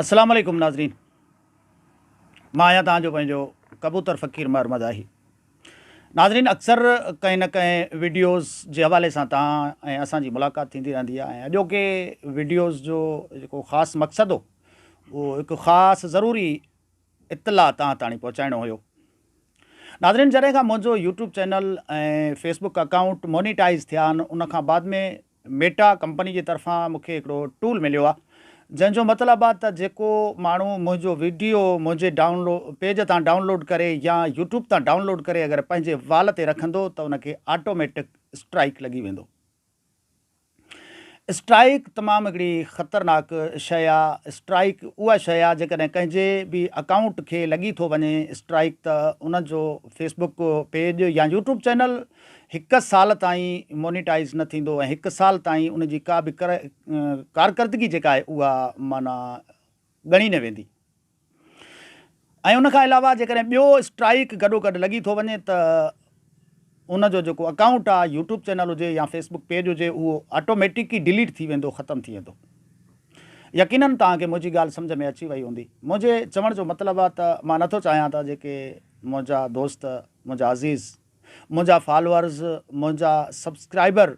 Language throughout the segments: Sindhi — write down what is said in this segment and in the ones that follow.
اسلام عليڪم ناظرين مان آهيان توهان جو پنهنجو ڪبوتر فقير مهر مزاحي ناظرين اڪثر ڪنهن نه ڪنهن ويڊيوز جي حوالي سان توهان ۽ اسان جي ملاقات ٿيندي رهندي آهي ۽ اڄوڪي ويڊيوز جو جيڪو خاص مقصد هو اهو هڪ خاص ضروري اطلاع توهان تاڻي پهچائڻو هيو ناظرين جڏهن کان منهنجو YouTube channel ۽ Facebook account monetise ٿيا آهن ان کان بعد ۾ ميٽا ڪمپني جي طرفان مون کي هڪڙو ٽول مليو آهي جنهن جو مطلب آهي ته جيڪو ماڻهو منهنجو وڊيو منهنجي ڊائون پيج تان ڊائون لوڊ ڪري يا يوٽيوب تان ڊائون لوڊ ڪري اگر پنهنجي وال تي رکندو ته ان کي آٽوميٽڪ اسٽرائيڪ لڳي ويندو. اسٽرائيڪ تمام هڪڙي خطرناڪ شيء آهي. اسٽرائيڪ اها شيء آهي جيڪڏهن ڪنهن جي به اڪائونٽ کي لڳي ٿو وڃي اسٽرائيڪ ته ان جو فيسبوڪ پيج يا يوٽيوب چينل هڪ سال تائين مونيٽائيز نه ٿيندو ۽ هڪ سال تائين ان جي ڪا به ڪارڪردگي جيڪا آهي اها معنيٰ ڳڻي نه ويندي ۽ ان کان علاوه جيڪڏهن ٻيو اسٽرائيڪ گڏوگڏ لڳي ٿو وڃي ته ان جو جيڪو اڪائونٽ آهي يوٽيوب چينل هجي يا فيسبوڪ پيج هجي اهو آٽوميٽڪ ئي ڊيليٽ ٿي ويندو ختم ٿي ويندو يقينن توهان کي منهنجي ڳالهه سمجھ ۾ اچي وئي هوندي منهنجي چوڻ جو مطلب آهي ته مان نٿو چاهيان ته جيڪي منهنجا دوست منهنجا عزيز منهنجا فالورز منهنجا سبسڪرائبر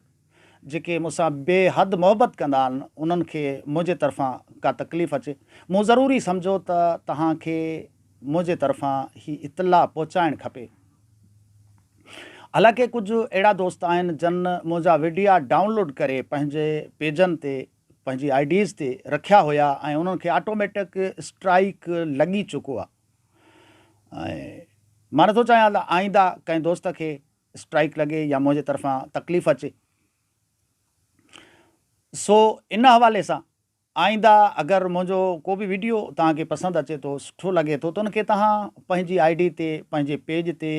جيڪي مون سان بي حد محبت ڪندا آهن انهن کي منهنجي طرفان ڪا تڪليف اچي مون ضروري سمجهو ته توهان کي منهنجي طرفان هي اطلاع پهچائڻ کپي حالانڪه ڪجهه اهڙا دوست آهن جن منهنجا وڊيا ڊائونلوڊ ڪري پنهنجي پيجن تي پنهنجي آئي ڊيز تي رکيا هيا ۽ انهن کي آٽوميٽڪ اسٽرائيڪ لڳي چڪو آهي. مان نٿو چاهيان ته آئينده ڪنهن دوست کي اسٽرائيڪ لڳي يا منهنجي طرفان تڪليف اچي سو ان حوالي سان آئينده اگر منهنجو ڪو به ويڊيو توهان کي پسند اچي ٿو سٺو لڳي ٿو ته ان کي توهان پنهنجي آئي ڊي تي پنهنجي پيج تي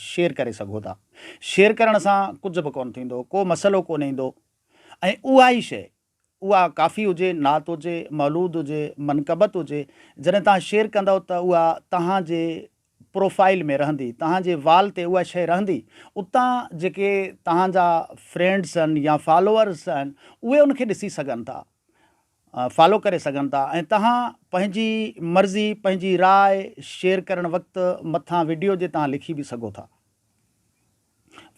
شيئر ڪري سگهو ٿا شيئر ڪرڻ سان ڪجهه به ڪونه ٿيندو ڪو مسئلو ڪونه ايندو ۽ اها ئي شيء اها ڪافي هجي، نعت هجي، مولود هجي، منقبت هجي، جڏهن توهان شيئر ڪندؤ ته اها توهان جي پروفائيل ۾ رهندي، توهان جي وال تي اها شيء رهندي، اتان جيڪي توهان جا فرينڊز آهن يا فالوورز آهن اهي ان کي ڏسي سگهن ٿا، فالو ڪري سگهن ٿا ۽ توهان پنهنجي مرضي، پنهنجي راء شيئر ڪرڻ وقت مٿان وڊيو جي توهان لکي به سگهو ٿا.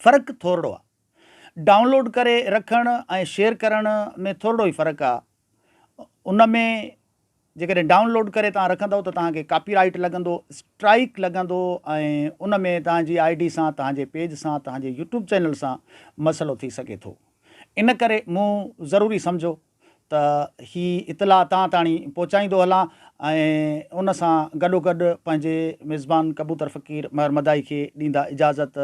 فرق ٿورڙو آهي. ڊائونلوڊ ڪري رکڻ ۽ شيئر ڪرڻ ۾ ٿورڙو ئي فرق آ ان ۾ جيڪڏهن ڊائونلوڊ ڪري توهان رکندؤ ته توهان کي ڪاپي رائيٽ لڳندو اسٽرائيڪ لڳندو ۽ ان ۾ توهان جي آئي ڊي سان توهان جي پيج سان توهان جي يوٽيوب چينل سان مسئلو ٿي سگهي ٿو ان ڪري مون ضروري سمجهو ته هي اطلاع توهان تاڻي پهچائيندو هلان ۽ ان سان گڏوگڏ پنهنجي ميزبان ڪبوتر فقير مهر مدائي کي ڏيندا اجازت